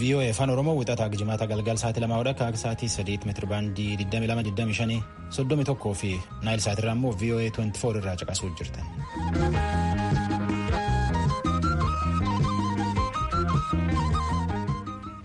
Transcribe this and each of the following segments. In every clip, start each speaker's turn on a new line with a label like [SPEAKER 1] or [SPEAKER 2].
[SPEAKER 1] VOA afaan Oromoo wixataa jimaata galgal sa'aatii lamaa hodha akka sa'aatii sadiitti meetira baandii 2225 31 fi naayil sa'aatirraa immoo VOA 24 irraa caqasuu jirtan.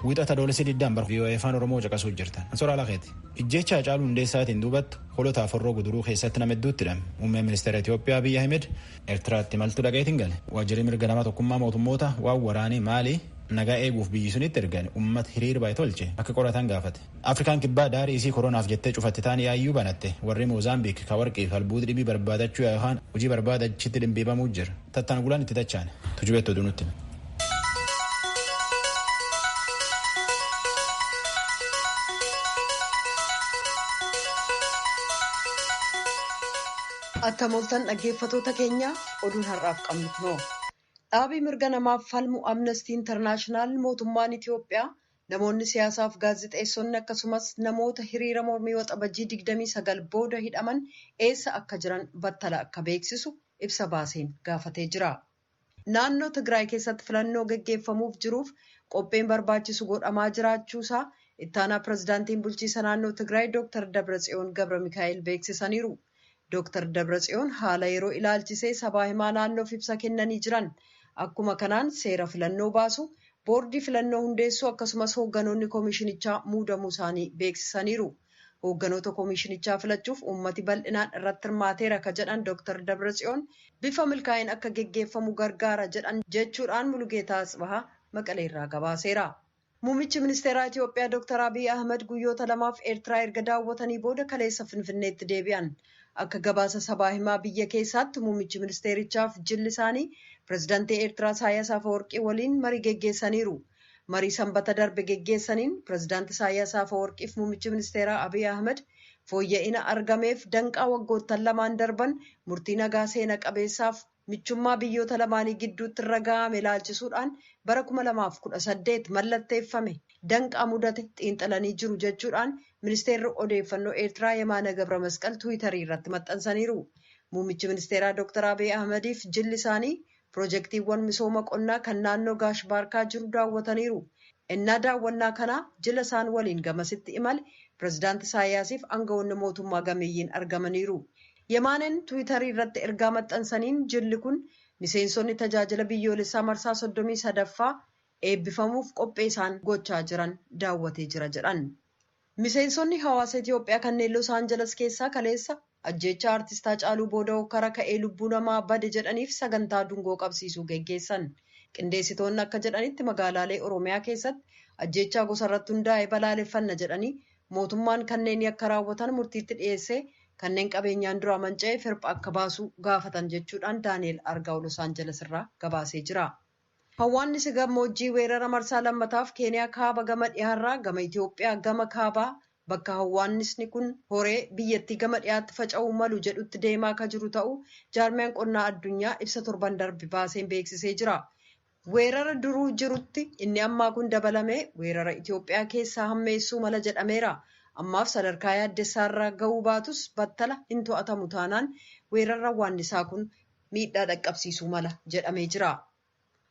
[SPEAKER 1] Wixata doolessi diddaan bara VOA afaan Oromoo caqasuu jirtan. Ansoora Alakeeti. Ijjeecha Hacaaluu Hundeessaatiin duubattu holotaa forroo guduruu keessatti nama hedduutti hidhame. Muummeen ministeera Itoophiyaa Abiyyi Ahmed Ertiraatti maltu dhaqeetiin gale. Waajjirri mirga nama tokkummaa mootummoota waan waraanii Maalii nagaa eeguuf biyyi sunitti ergan ummata hiriir bahe tolche akka qoratan gaafate. Afrikaan Kibbaa daarii isii koronaaf jettee cufatte taan yaayyuu banatte. Warrii Moozaambiik ka warqii fi albuud dhibii barbaadachuu yaa'e kaan hujii barbaada achitti dhimbiibamuu jira. Tattaan gulaan itti dachaan. Tujubeetti oduu nutti hime.
[SPEAKER 2] Akka mooltan dhaggeeffatoota keenya oduun har'aaf qabnu kunoo. Dhaabii mirga namaaf falmu Amnestii Intarnaashinaal mootummaan Itiyoophiyaa namoonni siyaasaaf gaazexeessonni akkasumas namoota hiriira mormii waxabajjii 29 booda hidhaman eessa akka jiran battala akka beeksisu ibsa baaseen gaafatee jira. Naannoo Tigraay keessatti filannoo geggeeffamuuf jiruuf qopheen barbaachisu godhamaa jiraachuusaa Ittaanaa Pirezidaantiin Bulchiisa Naannoo Tigraay Dooktar Dabratsiyoon Gabramikaa'el beeksisaniiru. Dooktar Dabratsiyoon haala yeroo ilaalchisee sabaa himaa naannoof ibsa kennanii jiran. Akkuma kanaan seera filannoo baasu, boordii filannoo hundeessuu akkasumas hoogganoonni komishinichaa muudamuusaanii beeksisaniiru. Hoogganoota komiishinichaa filachuuf uummati bal'inaan irratti hirmaateera ka jedhan Dooktar Dabratsiyoon bifa milkaa'een akka geggeeffamu gargaara jedhan jechuudhaan Mulugeetaa Atsbahaa Maqaleerraa gabaaseera. Muummichi ministeeraa Itiyoophiyaa Dooktar Abiy Ahmad guyyoota lamaaf Eertiraa erga daawwatanii booda kaleessa Finfinneetti deebi'an. Akka gabaasa sabaa himaa biyya keessaatti muummichi ministeerichaaf jilli isaanii pirezidantii Eertiraa Isaayyaas Afawarqii waliin marii geggeessaniiru. Marii Sanbata darbe geggeessaniin Pireezidaanti Isaayyaas Afawarqiif Muummichi Ministeeraa Abiy Ahimad fooyya'ina argameef danqaa waggoottan lamaan darban murtii nagaa seena qabeessaaf michummaa biyyoota lamaanii gidduutti irra ga'ame ilaalchisuudhaan bara 2018 mallatteeffame danqaa mudate xiinxalanii jiru jechuudhaan Ministeerri Odeeffannoo Eertiraa Yemaana Gabramasqal Tiwiitarii irratti maxxansaniiru. Muummichi Ministeeraa Dooktar Abiy Ahimadiif jilli isaanii Pirojektiiwwan misooma qonnaa kan naannoo Gaash Baarkaa jiru daawwataniiru. Ennaa daawwannaa kanaa jila isaan waliin gamasitti imale Pirezidaanti Isaayyaasiif angawoonni mootummaa gameeyyiin argamaniiru. Yemaaneen Tiwiitarii irratti ergaa maxxansaniin jilli kun miseensonni Tajaajila Biyyoolessaa marsaa 33ffaa eebbifamuuf qophee isaan gochaa jiran daawwatee jira jedhan. Miseensonni hawaasa Itoophiyaa kanneen Los Angeles keessaa kaleessa ajjeechaa Artist Haacaaluu booda hokkara ka'ee lubbuu namaa bade jedhaniif sagantaa dungoo qabsiisuu geggeessan. Qindeessitoonni akka jedhanitti magaalaalee Oromiyaa keessatti ajjeechaa gosarratti hundaa'e balaaleffanna jedhanii mootummaan kanneen yakka raawwatan murtiitti dhiyeessee kanneen qabeenyaan duraa manca'eef hirpha akka baasu gaafatan jechuudhaan Daani'el Argaaw Los Angeles irraa gabaasee jira. Hawwaannisi gammoojjii weerara marsaa lammataaf Keeniyaa kaaba gama dhihaarraa gama Itoophiyaa gama kaabaa bakka hawwaannisni kun horee biyyattii gama dhihaatti faca'uu malu jedhutti deemaa akka jiru ta'uu jaarmiyaan qonnaa addunyaa ibsa torban darbe baaseen beeksisee jira. Weerara duruu jirutti inni ammaa kun dabalamee weerara Itoophiyaa keessaa hammeessuu mala jedhameera. Ammaaf sadarkaa yaaddessaarra ga'uu baatus battala hin to'atamu taanaan weerarri hawwaannisaa kun miidhaa dhaqqabsiisuu mala jedhamee jira.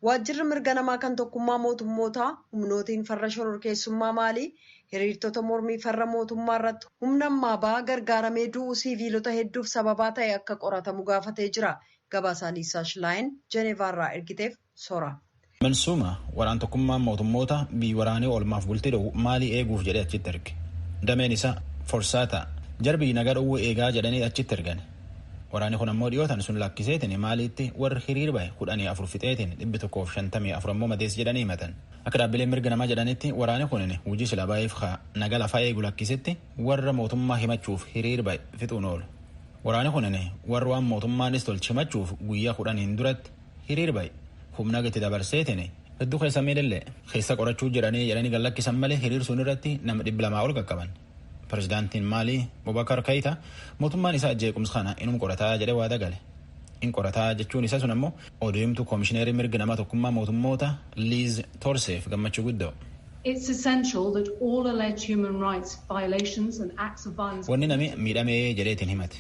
[SPEAKER 2] Waajjirri mirga namaa kan tokkummaa mootummootaa humnootiin farra shororkeessummaa Maalii hiriirtota mormii farra mootummaa irratti humna ammaa ba'aa gargaaramee du'uu siiviilota hedduuf sababaa ta'e akka qoratamu gaafatee jira. Gabaasaa Liisaa Shilaayin Jeneevaa irraa ergiteef Sora. Mansuuma,
[SPEAKER 1] Waraan Tokkummaan Mootummoota biyyi waraanii oolmaaf bultii dhowu maalii eeguuf jedhee achitti erge? Dameen isaa, Forsaata, jara biyyi nagaa dhowwu eegaa jedhanii achitti ergani. Waraanii kun ammoo dhiyoo tan sun lakkiseetiin Maaliitti warri hiriir bahe kudhanii afur fixeetiin dhibbi tokkoo fi shantamii afur ammoo madeesse jedhanii himatan. Akka dhaabbileen mirga namaa jedhanitti waraanii kunin hujii silaa baheef ka naga lafaa eegu lakkisetti warra mootummaa himachuuf hiriir bahe fixuun oolu. Waraanii kunin warra waan mootummaanis tolche himachuuf guyyaa kudhaniin duratti hiriir bahe humna itti dabarseetiin hedduu keessa miidhallee keessa qorachuu jiranii jedhanii gad lakkisan malee hiriir sun irratti nama dhibba lamaa ol qaqqaban. Pireezidaantiin Maalii Bubakar Keeyita mootummaan isaa jeequmsa kana inum qorataa jedhee waada gale. In qorataa jechuun isa sun ammoo oduu himtuu koomishineerii mirga namaa tokkummaa mootummoota Liiz Torseef gammachuu guddoo.
[SPEAKER 3] Wanni namni miidhamee
[SPEAKER 1] jedheetiin himate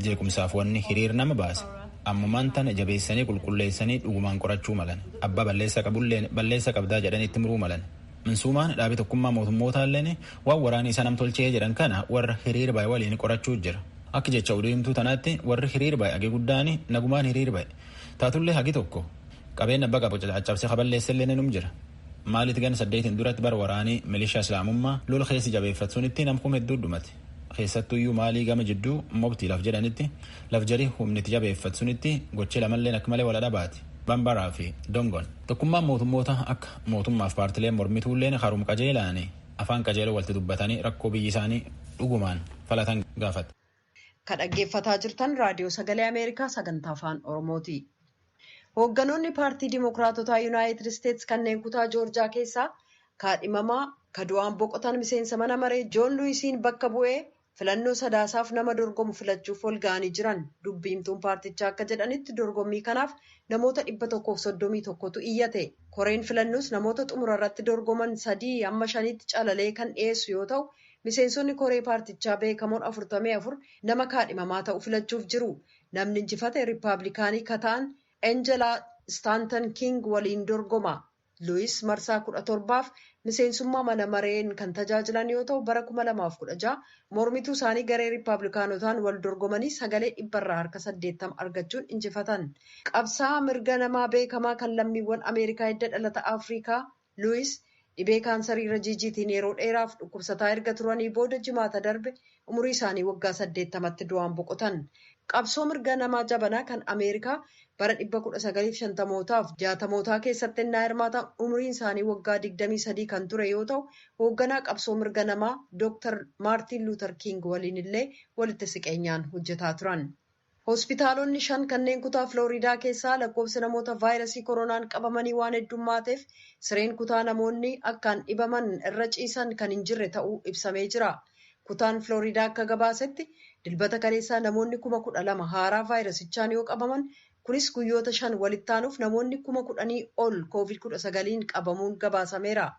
[SPEAKER 1] Jeequmsaaf wanni hiriir nama baase ammumaan tana jabeessanii qulqulleessanii dhugumaan qorachuu malan. Abbaa balleessa qabulleen balleessa qabdaa jedhanii itti muruu malan. Minsuumaan dhaabi tokkummaa mootummootaalleen waan waraanii isa nam tolchee jedhan kana warra hiriir baye waliin qorachuu jira. Akka jecha oduu himtuu tanaatti warri hiriir baye hagi guddaan nagumaan hiriir baye. Taatullee hagi tokko qabeen abba qabu caccabsee kaballeessellee ni num jira. Maaliit gan saddeetiin duratti bara waraanii milishaa islaamummaa lola keessi jabeeffatsunitti nam kum hedduu dhumate. Keessattuyyuu maalii gama jidduu mobti laf jedhanitti laf jarii humni itti jabeeffat sunitti gochi lamalleen akka malee wala dhabaati. Bambaraa fi Dongon. Tokkummaan mootummoota akka mootummaaf paartileen mormituulleen karum qajeelaani afaan qajeeloo walti dubbatanii rakkoo biyyi isaanii dhugumaan falatan gaafata. Ka
[SPEAKER 2] dhaggeeffataa jirtan Raadiyoo Sagalee Ameerikaa sagantaa afaan Oromooti. Hoogganoonni paartii Dimookiraatotaa Yunaayitid Isteets kanneen kutaa Joorjaa keessaa kaadhimamaa ka du'aan boqotan miseensa mana maree Joon Luwisiin bakka bu'ee filannoo Sadaasaaf nama dorgomu filachuuf walga'anii jiran. Dubbi himtuun paartichaa akka jedhanitti dorgommii kanaaf namoota 131tu iyyate. Koreen filannoos namoota xumura irratti dorgoman sadii hamma shaniitti calalee kan dhiyeessu yoo ta'u, miseensonni koree paartichaa beekamoon 44 nama kaadhimamaa ta'u filachuuf jiru. Namni injifate Rippaablikaanii ka ta'an Enjelaa Istaantan Kiing waliin dorgoma. Luwiis marsaa 17f miseensummaa mana mareen kan tajaajilan yoo ta'u bara 2016 mormituu isaanii garee Rippaablikaanotaan wal dorgomanii sagalee dhibba irraa harka 80 argachuun injifatan. Qabsaa'aa mirga namaa beekamaa kan lammiiwwan Ameerikaa hidda dhalata Afriikaa Luwis dhibee kaansarii rajiijiitiin yeroo dheeraaf dhukkubsataa erga turanii booda Jimaata darbe umurii isaanii waggaa 80tti du'aan boqotan. Qabsoo mirga namaa jabanaa kan Ameerikaa bara 1950mootaaf 60mootaa keessatti ennaa hirmaatan umuriin isaanii waggaa 23 kan ture yoo ta'u, hoogganaa qabsoo mirga namaa Dr. Maartiin Luutar Kiing waliin illee walitti siqeenyaan hojjetaa turan. Hospitaalonni shan kanneen kutaa Filooriidaa keessaa lakkoofsi namoota vaayrasii koronaan qabamanii waan heddummaateef sireen kutaa namoonni akkaan dhibaman irra ciisan kan hin jirre ta'uu ibsamee jira. Kutaan Filooriidaa akka gabaasetti Dilbata kaleessaa namoonni 12,000 haaraa vaayrasichaan yoo qabaman kunis guyyoota shan walittaanuuf namoonni 10,000 ol Covid 19n qabamuun gabaasameera.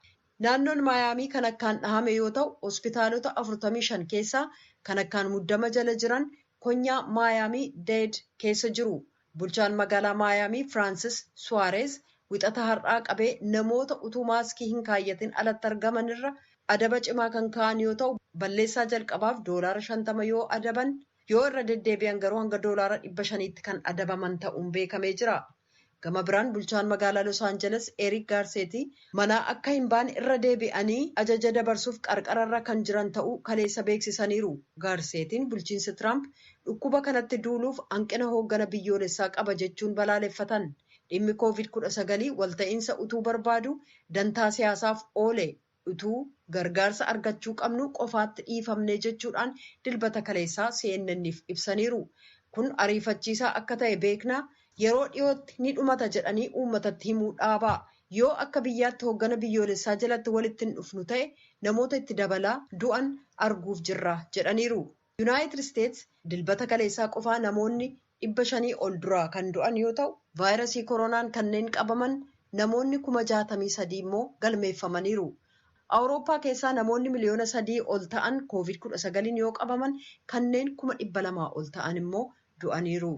[SPEAKER 2] Naannoon Maayaamii kan akkaan dhahame yoo ta'u, hospitaalota 45 keessaa kan akkaan muddama jala jiran konyaa Maayaamii Deed keessa jiru. Bulchaan magaalaa Maayaamii Firaansis Suwaareez Wixata har'aa qabee namoota utuu maaskii hin kaayyatin alatti argaman irra adaba cimaa kan kaa'an yoo ta'u, balleessaa jalqabaaf doolaara 50 yoo adaban, yoo irra deddeebi'an garuu hanga doolaara 500tti kan adabaman ta'uun beekamee jira. Gama biraan bulchaan magaalaa Los Angeles Eric Garcetti manaa akka hin baane irra deebi'anii ajaja dabarsuuf qarqara irra kan jiran ta'uu kaleessa beeksisaniiru. Garcettin bulchiinsi Trump dhukkuba kanatti duuluuf hanqina hooggana biyyoolessaa qaba jechuun balaaleffatan. Dhimmi Covid 19 walta'iinsa utuu barbaaduu dantaa siyaasaaf oole Utuu gargaarsa argachuu qabnuu qofaatti dhiifamne jechuudhaan Dilbata kaleessaa CNN'f ibsaniiru. Kun ariifachiisaa akka ta'e beekna. Yeroo dhiyootti ni dhumata jedhanii uummatatti himuu dhaabaa. Yoo akka biyyaatti hooggana biyyoolessaa jalatti walitti hin dhufnu ta'e namoota itti dabalaa du'an arguuf jirra, jedhaniiru. Yunaayitid Isteets Dilbata kaleessaa qofaa namoonni 500 ol duraa kan du'an yoo ta'u, vaayrasii koronaan kanneen qabaman namoonni kuma 63 immoo galmeeffamaniiru. Awurooppaa keessaa namoonni miliyoona 3 ol ta'an koovid 19n yoo qabaman kanneen kuma 200 ol ta'an immoo du'aniiru.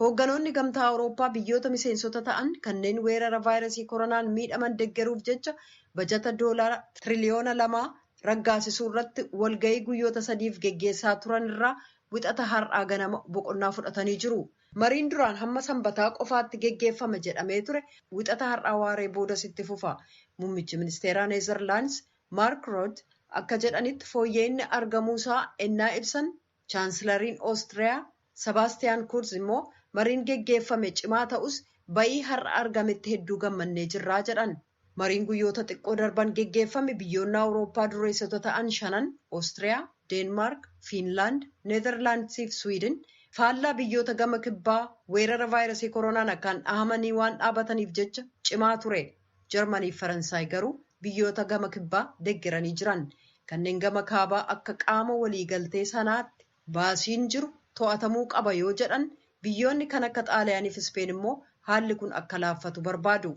[SPEAKER 2] Hoogganoonni Gamtaa Awurooppaa biyyoota miseensota ta'an kanneen weerara vaayrasii koronaan miidhaman deggeruuf jecha bajata doolaara tiriliyoona lamaa raggaasisuurratti walga'ii guyyoota sadiif geggeessaa turanirraa Wixata har'aa ganama boqonnaa fudhatanii jiru. Mariin duraan hamma Sambataa qofaatti geggeeffama jedhamee ture Wixata har'aa waaree boodas itti fufa. Mummichi ministeeraa Nezerlaands Maark Root akka jedhanitti fooyya'inni argamuusaa ennaa ibsan Chaansilariin Oostiriyaa Sabaastiyaan Kurz immoo mariin geggeeffame cimaa ta'us ba'ii har'a argametti hedduu gammannee jirra jedhan. Mariin guyyoota xiqqoo darban geggeeffame biyyoonni Awurooppaa dureessota ta'an shanan, Oostiriyaa, Deenmaark, Fiinlaand, Neezarlaandisii fi Siwiidin, faallaa biyyoota gama kibbaa weerara vaayrasii koronaan akkaan dhahamanii waan dhaabataniif jecha cimaa ture. Jarmanii fi Faransaay garuu biyyoota gama kibbaa deggeranii jiran. Kanneen gama kaabaa akka qaama waliigaltee sanaatti baasiin jiru to'atamuu qaba yoo jedhan, biyyoonni kan akka Xaaliyaanii fi Ispeen immoo haalli kun akka laaffatu barbaadu.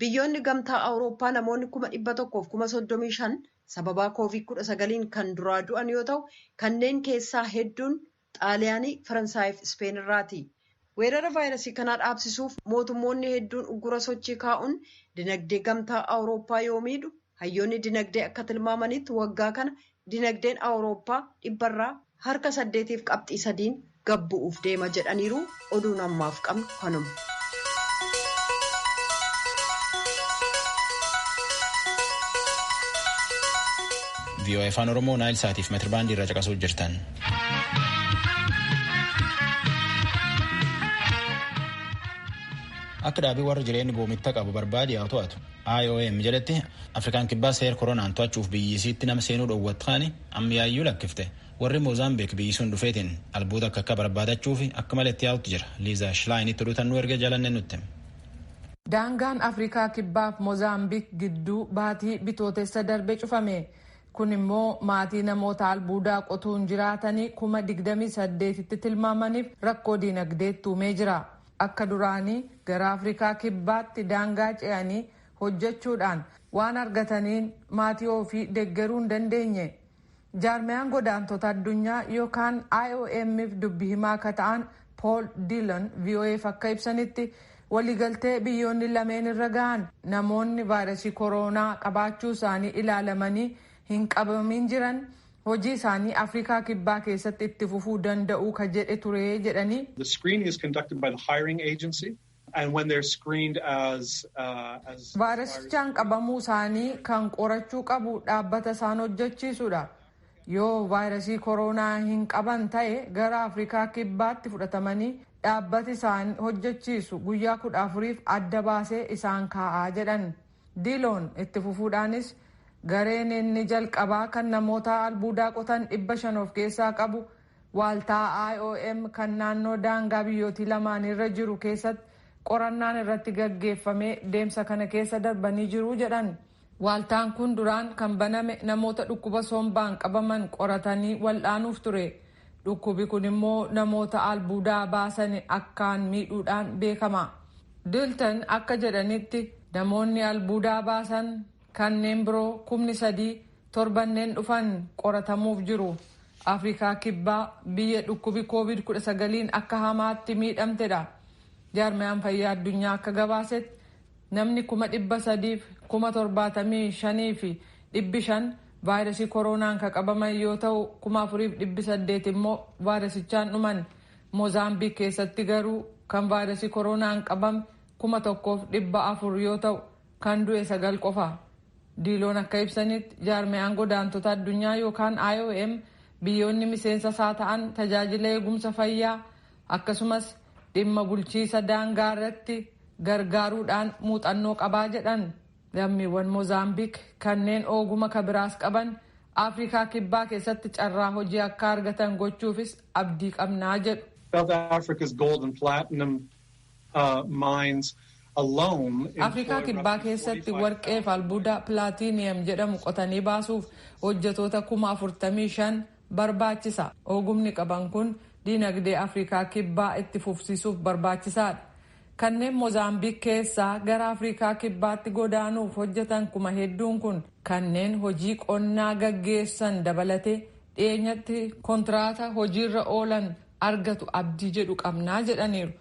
[SPEAKER 2] Biyyoonni Gamtaa Awurooppaa namoonni 135,000 sababaa Covid 19n kan duraa du'an yoo ta'u, kanneen keessaa hedduun Xaaliyaanii, Faransaayiif Ispeen irraati. Weerara vaayrasii kanaa dhaabsisuuf mootummoonni hedduun uggura sochii kaa'uun dinagdee Gamtaa Awurooppaa yoo miidhu, hayyoonni dinagdee akka tilmaamanitti waggaa kana dinagdeen Awurooppaa dhibbarraa harka saddeetiif qabxii sadiin gad bu'uuf deema jedhaniiru. Oduun ammaaf qabnu kanuma.
[SPEAKER 1] VOA Afaan Oromoo Naayil Saatiif metirbaandii irra caqasuu jirtan. Akka dhaabii warra jireenya goomitta qabu barbaade haa to'atu. IOM jedhetti Afrikaan kibbaa seera koronaan to'achuuf biyyisiitti nama seenuu dhoowwatanii amma yaayyuu lakkifte. Warri Moozaambiik biyyi sun dhufeetiin albuuda akka akka barbaadachuuf akka malee itti yaa'utti jira. Liizaa Shilaayiinitti oduutan nu erge jalannee nutti. Daangaan
[SPEAKER 4] Afrikaa Kibbaaf Moozaambiik gidduu baatii Bitootessa darbe cufame. Kun immoo maatii namoota albuudaa qotuun jiraatanii kuma digdamii saddeetitti tilmaamaniif rakkoo diinagdeetti uumee jira. Akka duraanii gara Afrikaa Kibbaatti daangaa ce'anii hojjechuudhaan waan argataniin maatii ofii deggeruu hin dandeenye. Jaarmiyaan Godaantota Addunyaa yokaan IOM'f dubbi himaa akka ta'an Pool Diilan VOA'f akka ibsanitti, waliigaltee biyyoonni lameen irra gahan namoonni vaayrasii koroonaa qabaachuu isaanii ilaalamanii hin qabamiin jiran hojii isaanii Afrikaa Kibbaa keessatti itti fufuu danda'uu ka jedhe ture jedhanii.
[SPEAKER 5] Vaayirasichaan
[SPEAKER 4] qabamuu isaanii kan qorachuu qabu dhaabbata isaan hojjechiisudha. Yoo vaayirasii koroonaa hin qaban ta'e gara Afrikaa Kibbaatti fudhatamanii dhaabbati isaan hojjechiisu guyyaa kudha afuriif adda baasee isaan kaa'a jedhan. Diiloon itti fufuudhaanis gareen inni jalqabaa kan namoota albuudaa qotan dhibba shan of keessaa qabu Waaltaa IOM kan naannoo daangaa biyyootii lamaaniirra jiru keessatti qorannaan irratti gaggeeffamee deemsa kana keessa darbanii jiru jedhan. Waaltaan kun duraan kan baname namoota dhukkuba sombaan qabaman qoratanii wal'aanuuf ture. Dhukkubi kun immoo namoota albuudaa baasani akkaan miidhuudhaan beekama. Dilton akka jedhanitti namoonni albuudaa baasan kanneen biroo kumni sadii torbanneen dhufan qoratamuuf jiru. Afrikaa Kibbaa biyya dhukkubi Koovid 19n akka hamaatti miidhamtedha. Jaarmayaan Fayyaa Addunyaa akka gabaasetti namni kuma dhibba sadiif kuma torbaatamii shanii fi dhibbi shan vaayirasii koroonaan ka qabaman yoo ta'u kuma afuriif dhibbi saddeet immoo vaayirasichaan dhuman. Moozaambiik keessatti garuu kan vaayirasii koroonaan qabame kuma tokkoof dhibba afur yoo ta'u Kan du'e sagal qofa. Diiloon akka ibsanitti, jaarmiyaan godaantota addunyaa yookaan IOM biyyoonni miseensa isaa ta'an tajaajila eegumsa fayyaa akkasumas dhimma bulchiisa daangaa irratti gargaaruudhaan muuxannoo qabaa jedhan. Lammiiwwan Mozaambik kanneen ooguma ka biraas qaban Afrikaa Kibbaa keessatti carraa hojii akka argatan gochuufis abdii qabna jedhu. South Africa's
[SPEAKER 5] gold and platinum Afrikaa Kibbaa
[SPEAKER 4] keessatti warqee fi albuuda platiniyem jedhamu qotanii baasuuf hojjetoota kuma 45 barbaachisa. Oogumni qaban kun diinagdee Afrikaa Kibbaa itti fufsiisuuf barbaachisaadha. Kanneen Mozaambiik keessaa gara Afrikaa Kibbaatti godaanuuf hojjetan kuma hedduun kun kanneen hojii qonnaa gaggeessan dabalatee dhiyeenyatti kontiraata hojiirra oolan argatu abdii jedhu qabna jedhaniiru.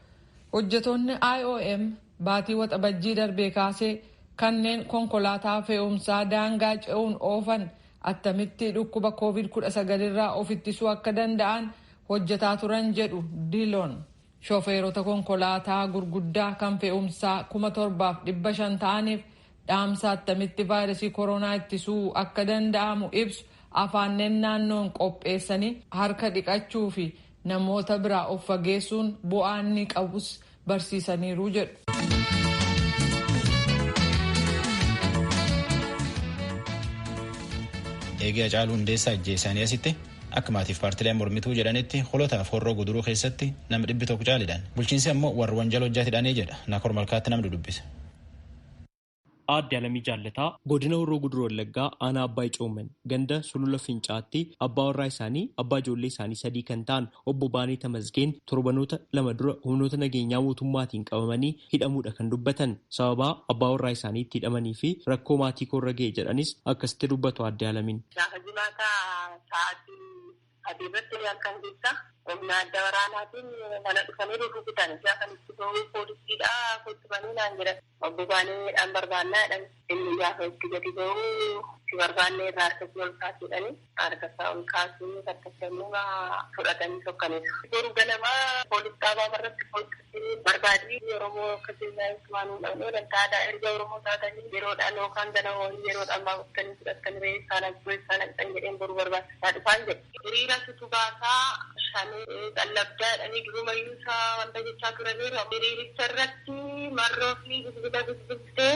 [SPEAKER 4] Hojjetoonni IOM baatii Waxabajjii darbee kaasee kanneen konkolaataa fe'umsaa daangaa ce'uun oofan attamitti dhukkuba Covid 19 irraa of ittisuu akka danda'an hojjetaa turan jedhu Diloon. Shofeerota konkolaataa gurguddaa kan fe'umsaa 7,500 ta'aniif Dhaamsa attamitti vaayrasii koroonaa ittisuu akka danda'amu ibsu afaanneen naannoon qopheessanii harka dhiqachuu fi namoota biraa of fageessuun bu'aa inni qabus barsiisaniiru jedhu.
[SPEAKER 1] Eegee Hacaaluu Hundeessaa ajjeesanii asitti akka maatiif paartileen mormituu jedhanitti holotaaf horroo guduruu keessatti nama dhibbi tokko caalidhaan bulchiinsi ammoo warri wanjala hojjatidhaanii jedha naakor malkaatti namni dubbisa. Aadde
[SPEAKER 6] Alamii Jaallataa Godina Horroo Guduruu Wallaggaa Aanaa Abbaay Coomman ganda Sulula Fincaa'aatti abbaa warraa isaanii abbaa ijoollee isaanii sadii kan ta'an obbo Baanee Tamasgeen torbanoota lama dura humnoota nageenyaa mootummaatiin qabamanii hidhamuudha kan dubbatan. Sababaa abbaa warraa isaanii itti hidhamanii fi rakkoo maatii koorra ga'e jedhanis akkasitti dubbatu Aadde Alamiin. Gaafa jimaataa sa'aatii
[SPEAKER 7] Sadii irratti halkan keessa humna adda waraanaatiin mana dhufanii rukutan. Gaafa itti bahu poolisiidha kottu banii naan jedhan. Obbo Baaneedhaan barbaannaa jedhan. Inni gaafa itti gadi bahu si barbaannee irraa harka kee ol kaasi jedhanii harka isaa ol kaasee harka isaa immoo fudhatanii sokkaniiru. Boru ganama poolis dhaabaa irratti Barbaadni Oromoo akka keenyaa eessumaa nuun dhabnee wanta aadaa erga Oromoo taatanii yeroodhaan yookaan gana horii yeroodhaan baafttanii fudhattanii re'ee issaa naqxuu eessaa naqxan jedheen boru barbaachisaa dhufaan jedhe. Hiriira situ baasaa shanee qallabdaa jedhanii durumayyuu isa wanta jechaa turaniiru. Hiriiricha irratti Marroo fi Bilbila bilbiltee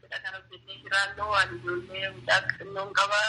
[SPEAKER 7] Cidha kana hojjennee jiraannu ani ijoollee mucaa xinnoon qaba.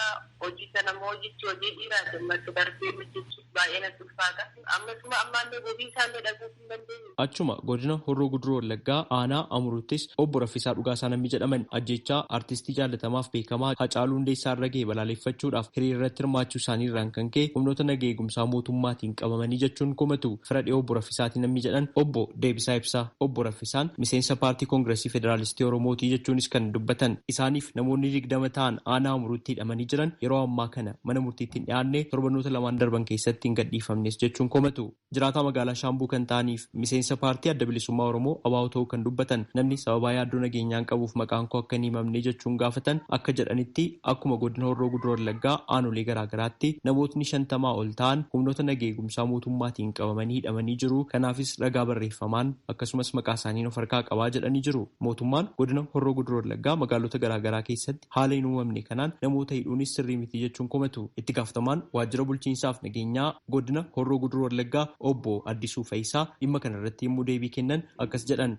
[SPEAKER 7] Hojii kana immoo hojjechuu hojii dhiiraati. Ammatti darbee hojjechuuf baay'ee natti ulfaata. Ammasuma ammaallee bobii isaallee dhaguuf hin dandeenye. Achuma godina Horroo
[SPEAKER 6] Guduruu Wallaggaa aanaa Amuruuttis obbo Raffisaa Dhugaasaa namni jedhaman ajjeechaa artistii jaallatamaaf beekamaa Hacaaluu Hundeessaa irra gahe balaaleffachuudhaaf hiriirarratti hirmaachuu isaanii irraan kan ka'e humnoota naga eegumsaa mootummaatiin qabamanii jechuun komatu. Fira dhiyoo obbo Raffisaatii namni jedhan obbo Deebisaa Ibsaa obbo Isaan miseensa Paartii Kongirasii Federaalistii Oromooti jechuunis kan dubbatan isaaniif namoonni digdama ta'an aanaa Amuruutti hidhamanii jiran yeroo ammaa kana mana murtiitti hin dhiyaanne torbanoota lamaan darban keessatti hin gadhiifamnes jechuun komatu. Jiraataa magaalaa Shaambuu kan ta'aniif miseensa paartii Adda Bilisummaa Oromoo, abo, ta'uu kan dubbatan namni sababaa yaaddoo nageenyaan qabuuf maqaan koo akka hin himamne jechuun gaafatan akka jedhanitti, Akkuma godina Horroo Guduruu Wallaggaa aanolee garaa garaatti namootni shantamaa ol ta'an humnoota nageegumsaa mootummaatiin qabamanii hidhamanii jiru. Kanaafis ragaa barreeffamaan akkasumas maqaasaaniin of harkaa qabaa jedhanii jiru. Mootummaan godina Horroo Guduruu Wallaggaa magaalota garaa garaa keessatti haala hin uumamne kanaan namoota hidhuunis sirrii miti jechuun komatu. Itti gaafatamaan waajjira bulchiinsaaf nageenyaa godina Horroo Guduruu Wallaggaa obbo Addisuu Fayisaa dhimma kanarratti yemmuu deebii kennan akkas jedhan.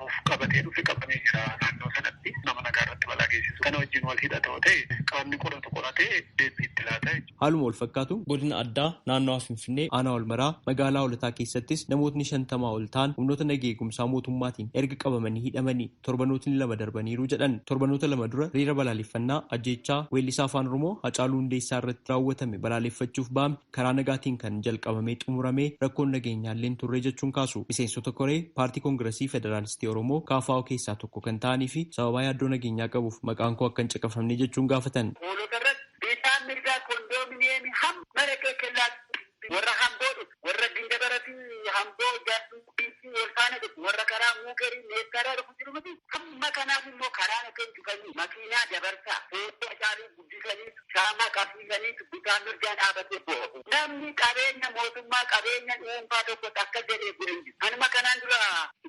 [SPEAKER 8] of qabatee dhufe qabamee jira naannoo sanatti nama nagaa irratti balaa geessisu kana wajjin wal hidhata yoo ta'e qaamni qoratu qoratee deebii itti laata. Haaluma wal fakkaatuun
[SPEAKER 6] godina addaa naannawaa Finfinnee aanaa Walmaraa magaalaa Holataa keessattis namootni shantamaa ol ta'an humnoota naga eegumsaa mootummaatiin erga qabamanii hidhamanii torbanootni lama darbaniiru jedhan torbanoota lama dura riira balaaleffannaa ajjeechaa weellisaa afaan Oromoo Hacaaluu Hundeessaa irratti raawwatame balaaleffachuuf ba'ame karaa nagaatiin kan jalqabamee xumurame rakkoon nageenyaallee hin turre jechuun kaasu. Miseensota koree Paartii Kongirasii Federaalistii Oromoo, KFO, keessaa tokko kan ta'anii fi sababaa yaaddoo nageenyaa qabuuf maqaan koo akka hin caqafamne jechuun gaafatan. Hoolota irratti dhiibbaan mirgaa kondoominiyeemii hamma
[SPEAKER 8] Maratee Kellaatti, warra Hamboo dhufu, warra Gindabara fi Hamboo Jaarsuu Gumbiitti wal faana dhufu, warra karaa Muukerii Meettaarraa dhufu jiru miti. Hamma kanaaf immoo karaa nageen cufanii makiinaa dabarsaa, footoo Hacaaluu guddisaniitu caamaa qabsiisaniitu bitaa mirgaan dhaabatee boo'u. Namni qabeenya mootummaa qabeenya dhuunfaa tokko takka jedhee bu'e hin jiru. Anuma kanaan dura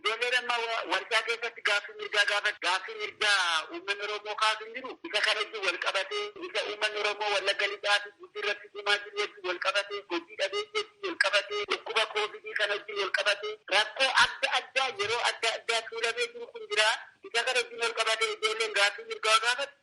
[SPEAKER 8] ijoolleen amma warshaa keessatti gaaffii mirgaa gaafatu gaaffii mirgaa uummanni Oromoo kaasu hin jiru. Isa kana wajjin wal qabatee isa uummanni Oromoo Wallagga Lixaa fi Gujii irratti dhumaa jiru wajjin wal qabatee hojii dhabeeyyii wajjin wal qabatee dhukkuba koovidii kana wajjin wal qabatee rakkoo adda addaa yeroo adda addaa tuulamee jiru kun jira. Isa kana wajjin wal qabatee ijoolleen gaaffii mirgaa gaafatu.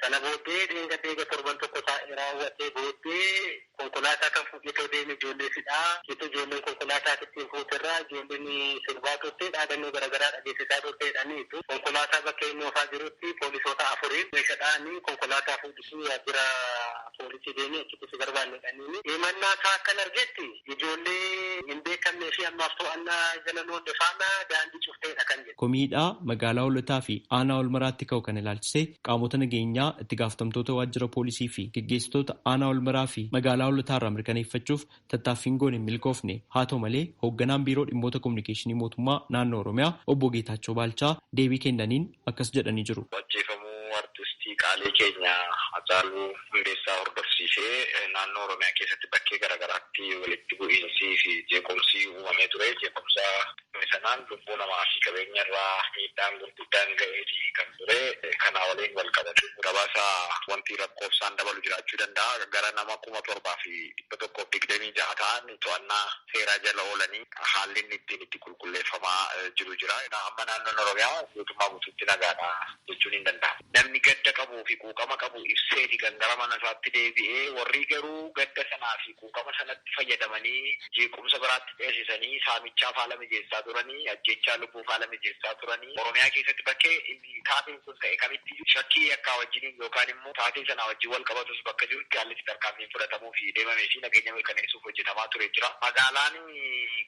[SPEAKER 8] Sana booddee dheengadda eega torban tokko taa'ee raawwatee booddee konkolaataa kan fuudheetoo deeme ijoollee sidhaa jettee ijoolleen konkolaataa isittiin fuute irraa ijoolleen sirbaa turte dhaadannoo garagaraa dhageessisaa turte jedhaniitu. Konkolaataa bakka inni oofaa jirutti poolisoota afuriin meeshadhaan konkolaataa fuudhisii waajjira poolisii deemi achitti si barbaanna jedhaniini. Himannaa isaa akkan argetti Ijoollee hin beekamnee fi ammaaf to'annaa jala hin oolle faana daandii cufteedha kan jedhe. Komii hidhaa magaalaa
[SPEAKER 6] Hoolotaa fi aanaa Walmaraatti ka'u kana ilaalchisee qaamota nageenyaa, itti gaafatamtoota waajjira poolisii fi geggeessitoota aanaa Walmaraa fi magaalaa Hoolotaa irraa mirkaneeffachuuf tattaaffiin goone hin milkoofne. Haa ta'u malee, hoogganaan biiroo dhimmoota komunikeeshinii mootummaa naannoo Oromiyaa obbo Geetaachoo Baalchaa deebii kennaniin, akkas jedhanii jiru. Ajjeefamuu artistii
[SPEAKER 9] qaalii keenya Hacaaluu Hundeessaa hordofsiisee naannoo Oromiyaa keessatti bakkee garaagaraatti walitti bu'iinsii fi jeequmsi uumamee ture. Jeequmsa uumame sanaan lubbuu namaa fi qabeenya irra miidhaan gurguddaan ga'eeti kan ture. Kanaa waliin walqabatee gabaasa wanti lakkoofsaan dabalu jiraachuu danda'a. Gara nama 7126 ta'an to'annaa seeraa jala oolanii haalli inni ittiin itti. qulqulleeffamaa jiru jira. Amma naannoon Oromiyaa guutummaa guutuutti nagaadha jechuun hin danda'amu. Namni gadda qabuu fi quuqama qabu ibseeti kan gara mana isaatti deebi'e. Warri garuu gadda sanaa fi quuqama sanatti fayyadamanii jeequmsa biraatti ceesisanii saamichaaf haala mijeessaa turanii, ajjeechaa lubbuuf haala mijeessaa turanii Oromiyaa keessatti bakkee Rabbii, taateen sun ta'e kamittiyyuu shakkii yakkaa wajjiniin yookaan immoo taatee sanaa wajjin wal qabatus bakka jirutti haalli itti tarkaanfiin fudhatamuufi deemamee fi nageenya mirkaneessuuf hojjetamaa ture jira. Magaalaan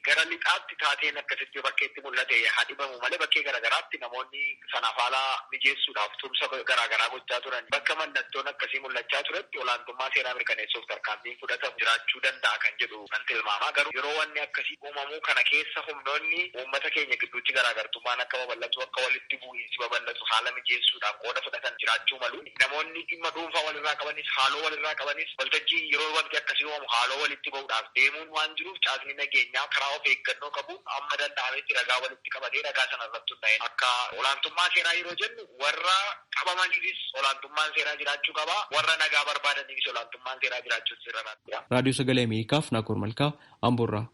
[SPEAKER 9] gara lixaatti taateen akkasitti yoo bakkeetti mul'ate haa dhibamu malee bakkee gara garaatti namoonni sanaaf haala mijeessuudhaaf tumsa garaa garaa gochaa turan. Bakka mallattoon akkasii mul'achaa turetti olaantummaa seeraa mirkaneessuuf tarkaanfiin fudhatamu jiraachuu danda'a kan jedhu. nan tilmaama. Garuu yeroo wanni akkasii uumamu kana keessa humnoonni uummata keenya gidduutti garaagartummaan akka babal'atu, akka walitti bu'iinsi babal'atu haala mijeessuudhaan qooda fudhatan jiraachuu malu. Namoonni dhimma dhuunfaa walirraa qabanis, haaloo walirraa qabanis waltajjii yeroo wanti akkasii uumamu haaloo walitti ba'uudhaaf deemuun waan jiruuf caasni nageenyaa karaa of eeggannoo qabuun amma danda'ametti ragaa walitti qabatee ragaa sana irratti hundaa'een akka olaantummaa seeraa yeroo jennu warra qabamaniifis olaantummaan seeraa jiraachuu qaba, warra nagaa barbaadaniifis olaantummaan seeraa jiraachuutu irra. Raadiyoo Sagalee Ameerikaaf
[SPEAKER 6] Naakoor Malkaa Amboorraa.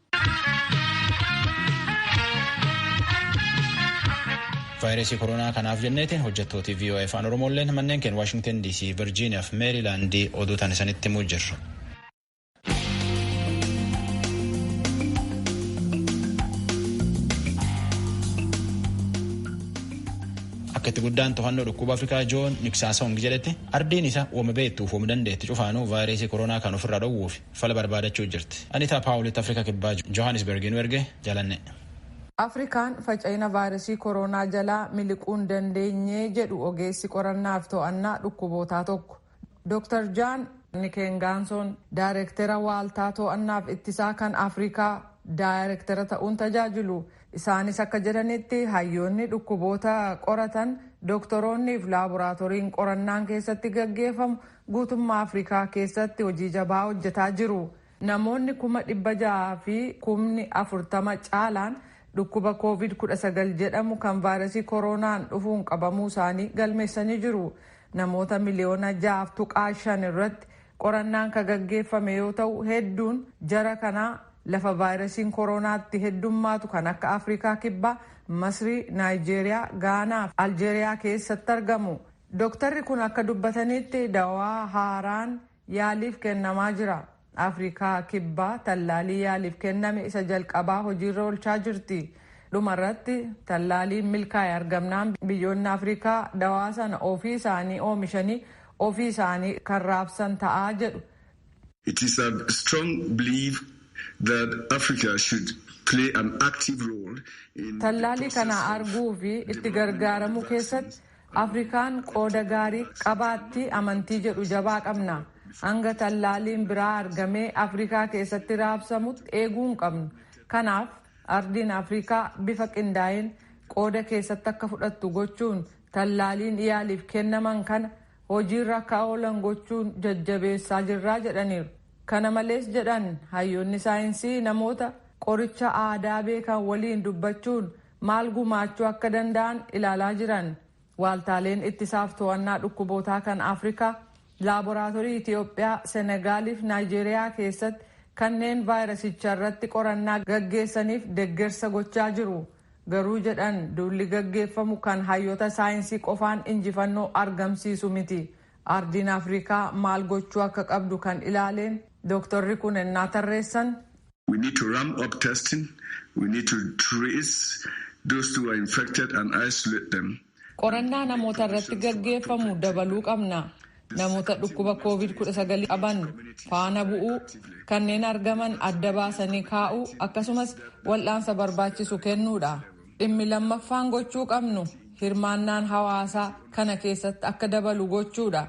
[SPEAKER 1] vaayirasii koronaa kanaaf jenneeti hojjettooti VOA afaan oromoolleen manneen keenya waashingtan DC virjiiniyaa fi meerilaandii oduu tan isanitti himuu jirru. akka itti guddaan to'annoo dhukkuba afrikaa joon niksaasawungi jedhetti Ardiin isa woma beettuuf wom dandeetti cufaanuu vaayireesii koronaa kan ofirraa dhowwuuf fala barbaadachuu jirti. Anitaa Paawulitti Afrika Kibbaa Johaanisbergii nu erge Jalanne. Afrikaan
[SPEAKER 4] faca'ina vaayiresii koroonaa jalaa miliquu hin dandeenye jedhu ogeessi qorannaaf to'annaa dhukkubootaa tokko. Dr Jaan Nikengaansoon daayirektera waaltaa to'annaaf ittisaa kan Afrikaa daayirektera ta'uun tajaajilu. Isaanis akka jedhanitti hayyoonni dhukkuboota qoratan, doktoroonniif laaboraatoriin qorannaan keessatti gaggeeffamu guutummaa Afrikaa keessatti hojii jabaa hojjetaa jiru. Namoonni kuma dhibba ja'aa fi kumni afurtama caalaan dhukkuba Kooviid kudha sagal jedhamu kan vaayrasii koroonaan dhufuun qabamuu isaanii galmeessanii jiru. Namoota miliyoona ja'aaf tuqaa shan irratti Qorannaan ka gaggeeffame yoo ta'u hedduun jara kanaa lafa vaayirasiin koroonaa itti heddummaatu kan akka Afrikaa Kibbaa, Masrii, Naayijeeriyaa, Gaanaa fi Aljeeriyaa keessatti argamu. Doktarri kun akka dubbatanitti dawaa haaraan yaaliif kennamaa jira. Afrikaa Kibbaa tallaalii yaaliif kenname isa jalqabaa hojiirra oolchaa jirti. Dhumarratti tallaaliin milkaa'e argamnaan biyyoonni Afrikaa dawaa sana ofii isaanii oomishanii ofii isaanii kan raabsan ta'a jedhu. It is
[SPEAKER 10] our strong belief that Africa should play an active role in the Tallaalii process kana of
[SPEAKER 4] arguu fi itti development of the gargaaramuu keessatti vaccines. Afrikaan qooda gaarii qabaatti amantii jedhu jabaa qabna. Hanga tallaaliin biraa argamee Afrikaa keessatti raabsamutti eeguu hin qabnu. Kanaaf ardiin Afrikaa bifa qindaa'een qooda keessatti akka fudhattu gochuun Tallaaliin yaaliif kennaman kana hojiirra akka oolan gochuun jajjabeessaa jirra jedhaniiru. Kana malees jedhan hayyoonni saayinsii namoota qoricha aadaa beekan waliin dubbachuun maal gumaachuu akka danda'an ilaalaa jiran. Waaltaaleen ittisaaf to'annaa dhukkubootaa kan Afrikaa Laaboraatorii Itiyoophiyaa, Senegaaliif Naayijeeriyaa keessatti kanneen vaayirasicha irratti qorannaa gaggeessaniif deggersa gochaa jiru. Garuu jedhan duulli gaggeeffamu kan hayyota saayinsii qofaan injifannoo argamsiisu miti. Ardiin Afrikaa maal gochuu akka qabdu kan ilaaleen dooktorri kun ennaa tarreessan. We need to
[SPEAKER 10] ramp up testing, we need to trace those who are infected and isolate them. Qorannaa namoota
[SPEAKER 4] irratti gaggeeffamu dabaluu qabna. Namoota dhukkuba Kooviid 19 qaban faana bu'uu, kanneen argaman adda baasanii kaa'uu akkasumas wal'aansa barbaachisu kennuudha. Dhimmi lammaffaan gochuu qabnu hirmaannaan hawaasaa kana keessatti akka dabalu gochuudha.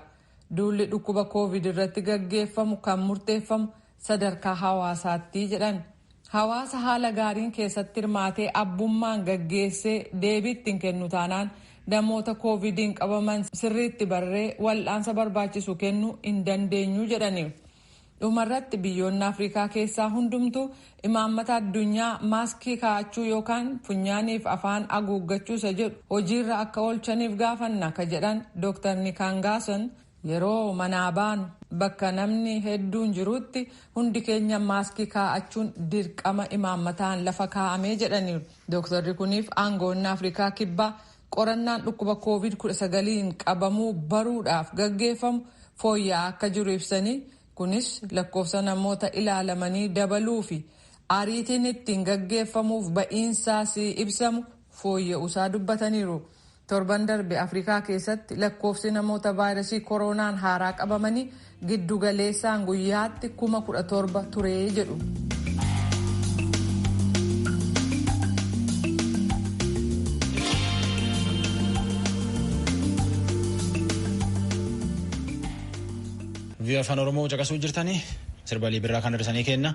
[SPEAKER 4] Duulli dhukkuba Kooviid irratti gaggeeffamu kan murteeffamu sadarkaa hawaasaatti jedhan. Hawaasa haala gaariin keessatti hirmaatee abbummaan gaggeessee deebii itti hin kennu taanaan namoota kooviidiin qabaman sirriitti barree wal'aansa barbaachisu kennu hin dandeenyu jedhaniiru. Dhumarratti biyyoonni Afrikaa keessaa hundumtu imaammata addunyaa maaskii kaa'achuu yookaan funyaaniif afaan aguuggachuu isa jedhu hojiirra akka oolchaniif gaafanna ka jedhan Dr. Nikaangaason Yeroo manaa baanu, bakka namni hedduun jiruutti hundi keenya maaskii kaa'achuun dirqama imaammataan lafa kaa'ame jedhaniiru Dooktarri kuniif aangawoonni Afrikaa Kibbaa qorannaan dhukkuba Kooviid 19n qabamuu baruudhaaf gaggeeffamu fooyya'aa akka jiru ibsanii kunis lakkoofsa namoota ilaalamanii dabaluufi ariitiin ittiin gaggeeffamuuf ba'iinsaas ibsamu fooyya'uusaa dubbataniiru. Torban darbe Afrikaa keessatti lakkoofsi namoota vaayrasii koroonaan haaraa qabamanii giddu galeessaan guyyaatti kuma 17 ture jedhu.
[SPEAKER 1] Vii'oo afaan Oromoo caqasuu jirtanii sirbalii birraa kan darsanii kenna.